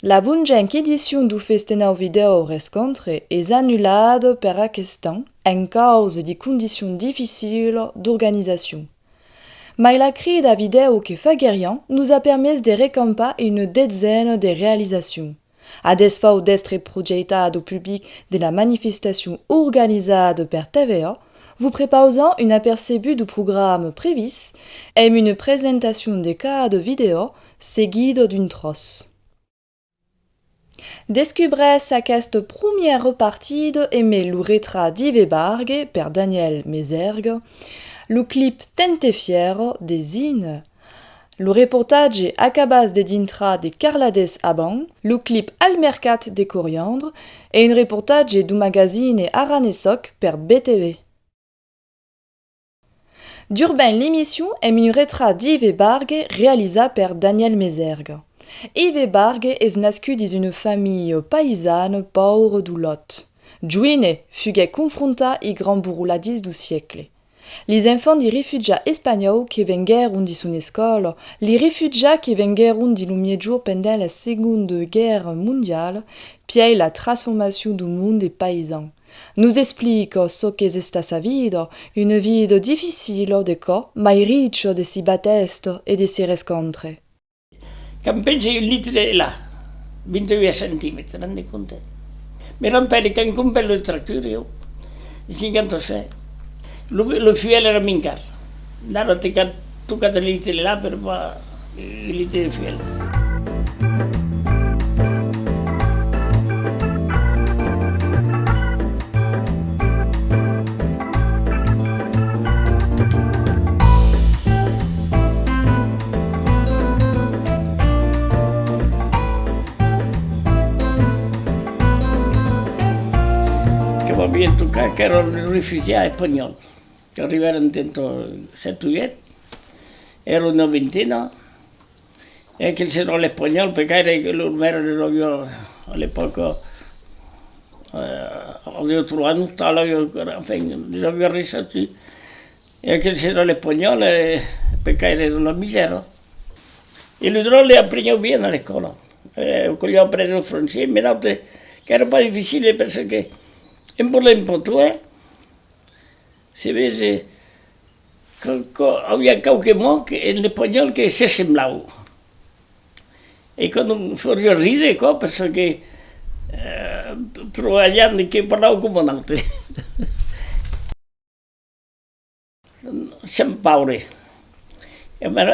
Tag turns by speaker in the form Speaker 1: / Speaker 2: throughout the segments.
Speaker 1: La venjenc edicion du Festenau Vidèo Rescontre es anulada per aqueste an en causa de condicion dificila d'organizacion. Mai la crida vidèo que faguerián nos a permés de recampar una detzena de realizacions. A desfau d'èstre projeitat au public de la manifestacion organizada per TVA, vos prepausam un apercebut du programa previst emb una presentacion de cada vidèo seguida d'un tròç. Descubrètz aquesta promièra partida emb lo retrat d'Ive Bargue per Daniel Mesergue, lo clip Tente Fièro de Zine Lo reportatge acabas de dintrar de Carladés Abans, lo clip Al mercat de coriandre e un reportatge du magazine Aranesoc per BTV. Durben L'emission èm un retrat d'Yve Bargue realizat per Daniel Mesergue. Yve Bargue es nascut dins una familha païsana paura du Lot. Joine, fuguèt confrontat i grand bourroladís du siecle. Lis enfants di rifugià espanhòu que venguèron di son escòla, li rifugià que venguèron di lo Miègjorn pendent la Segonda Guèrra Mondiala, pièi la trasformacion du mond de paisan, nos explica çò qu'es esta sa vida, una vida dificila de cò, mai richa de si batèstes e de si rescòntres. Qu'èm
Speaker 2: pensi un litre de la, 28 centimètres, t'en rendes compte? Me rampèri qu'èm complet lo tractor, jo, en 57, lo, lo fuèl èra min car, d'a lo te cap tocat un litre de la per pas un litre de fuèl. Que m'avián tocat qu'èran de refugiats espanhòls qu'arribèran dentò 7 o 8, èra una vintena E que se non l'espanhòl, per gaire que los mères les avion a l'epòca avion trobat un tal avion qu'èra enfin les avion reissatis, e que se non l'espanhòl per gaire de la misèra. E lo dròlle e aprenhèu bien a l'ecòla, e que'u apres lo francés, me n'aute qu'èra pas difficile perseque en volent potó, eh! Se vese quauqu, auia quauque mot en espanhòl que se semblau. E quò non faria rire quò perçò que trova jan que parlau coma un aute. Sèm paure. E ben,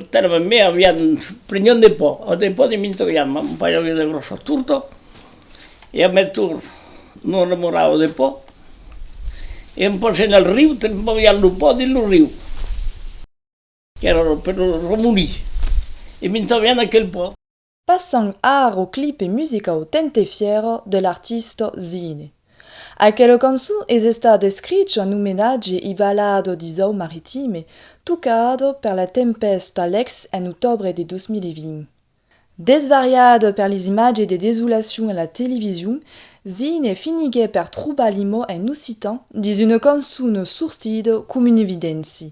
Speaker 2: tèrme en mai avián prenhut de pò, ò de pò de mi troiam un pajaui de gròssa torta, e a metur non remorava de pò, e un pòs en el riu te'n movián lo pò dins lo riu, qu'èra per lo remolir, e mi troiam aquel pò. Passam
Speaker 1: ar au clipe musicau Tente Fiero de l'artista Zine. Aquela cançon es estat escrich en omenatge i balado d'Isau Maritime, tocada per la tempèsta Alex en otòbre de 2020. Desvariada per les imatges de desolacion a la television, Zine finiguèt per trobar l'imò en occitan dins una cançon sortida com un evidenci.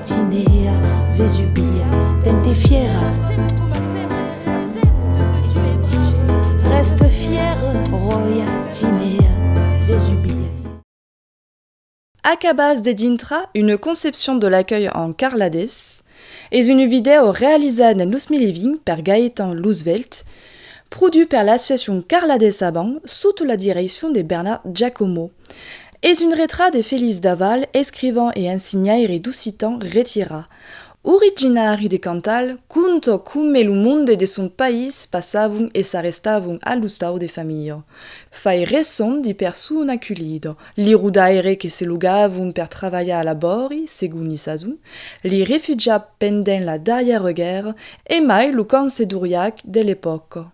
Speaker 3: Tinèa Vesubia dens de fièra. Rèste fière, ròia, Tinèa Vesubia.
Speaker 1: Acabas de dintrar Une conception de l'accueil en carladés es une vidèo realizada dens 2020 per Gaëtan Lousvelt, produch per l'associacion Carladés Avant sota la direccion de Bernard Giacomo. Es un retrat de Feliç Daval, escrivan e ensinhaire d'occitan retirà. Originari de Cantal, conta come lo monde de son país passavon e s'arrestavon a l'ostau de familha. Fai ressons de persona culida, li rodaires que se logavon per travalhar a labòri, segon li sason, li refugiats pendent la darrièra guèrra e mai lo camp sedoriac de l'epòca.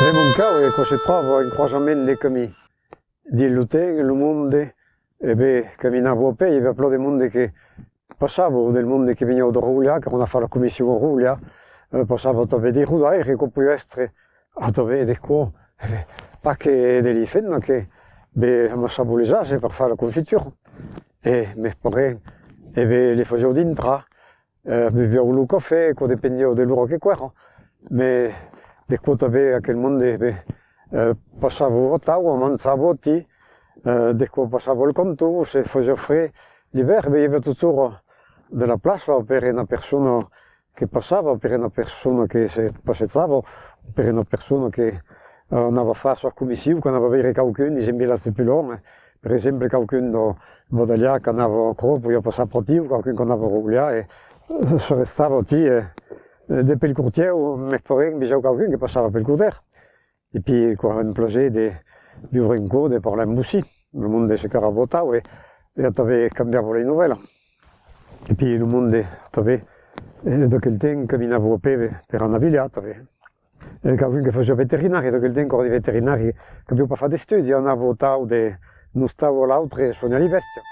Speaker 4: Premoncau e quò se tròva en croisament de camí dins lo temps e lo monde e ve caminar vòu pei e ve a plò de monde que Passavo del monde que veniáu de Raulià, qu'èra una fara comission a Raulià, passavo a tanben de Rodaire, com poi èstre a tanben de quò, pas que de li fèt, mas que be m'assabolesasse per far la confitura, e mes parents e be li fasiáu dintrar, beviáu lo cafè, quò dependiáu de l'ora que quèra, mes de quò tanben aquel monde be Passavo votau o manzà voti, de quò passavo el contu, se fosio fre libèr veieva totjor de la plaça o per ena persona que passava o per ena persona que se passejava o per ena persona que anava far sua comissiu, qu'anava veire quauqu'un dins un vilatge pus luònh, per exemple quauqu'un dau Bodalhà qu'anava aquò, poiá passar pròtiu, quauqu'un qu'anava a Roglià e se restava oti e. De pel cortièr o mès poguèc en vejar quauqu'un que passava pel cortièr. E pui quan em plogè de viure en cò, de parlar en bocí. Lo monde se carabotau e ja t'avè cambiavo lei novèla. E pui lo monde t'avè e d'aquel temps caminavo a pè per anar vilhar, t'avè quauqu'un que fasiá veterinari, d'aquel temps cor de veterinari qu'avió pas fat d'estudi, anavo tau de un ostau a l'autre e soignar li bèstia.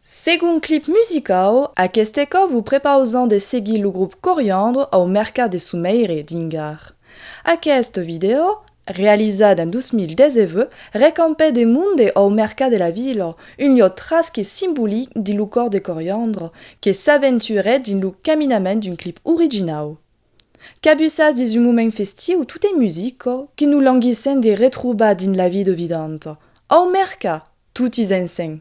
Speaker 1: Segon clip musicau, aqueste còp vos prepausam de seguir lo grop Coriandre au mercat de Someire, dins Gard. Aqueste vidèo, realizat en 2019, recampèt de monde au mercat de la vila, un lieu trasc e simbolic dins lo còr de Coriandre, que s'aventurèt dins lo caminament d'un clip originau. Cabussas dins un moment festiu, tot ei musica, que nos languissèm de retrobar dins la vida vidanta. Au Merca! Totis ensenh!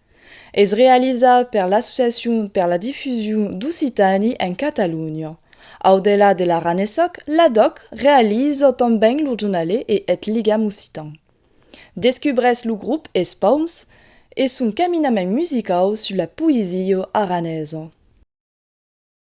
Speaker 1: Es realizat per l'Associacion per la difusion d'occitani en Catalonha. Au delà de l'aranesoc, l'ADOC realiza tanben lo jornalè e eth ligam occitan. Descubrèsses lo grop Es Paums e son caminament musicau sus la poesia aranesa.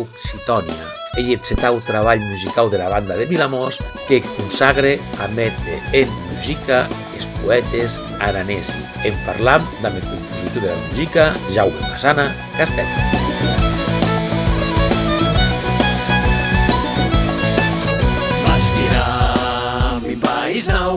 Speaker 5: Occitània, ei eth setau trabalh musicau dera banda de Vilamòs que consagre a méter en musica es poètes aranesi. En parlam damb eth compositor dera musica, Jaume Masana Castèth. Vaig tirar
Speaker 6: mi paisau.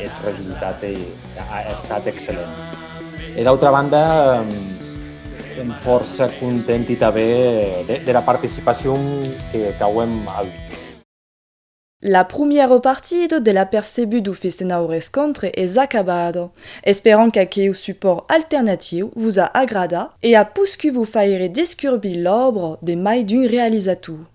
Speaker 7: Eth resultat a estat excellent. E d'autra banda, èm fòrça contenti tanben dera participacion qu'auem auut.
Speaker 1: La prumiera partida de l'Apercebut o Festa Nau Rescontre es acabada. Esperam qu'aqueu supòrt alternatiu vos a agradat e a poscut vos faire descurbir l'òbra de mai d'un realizator.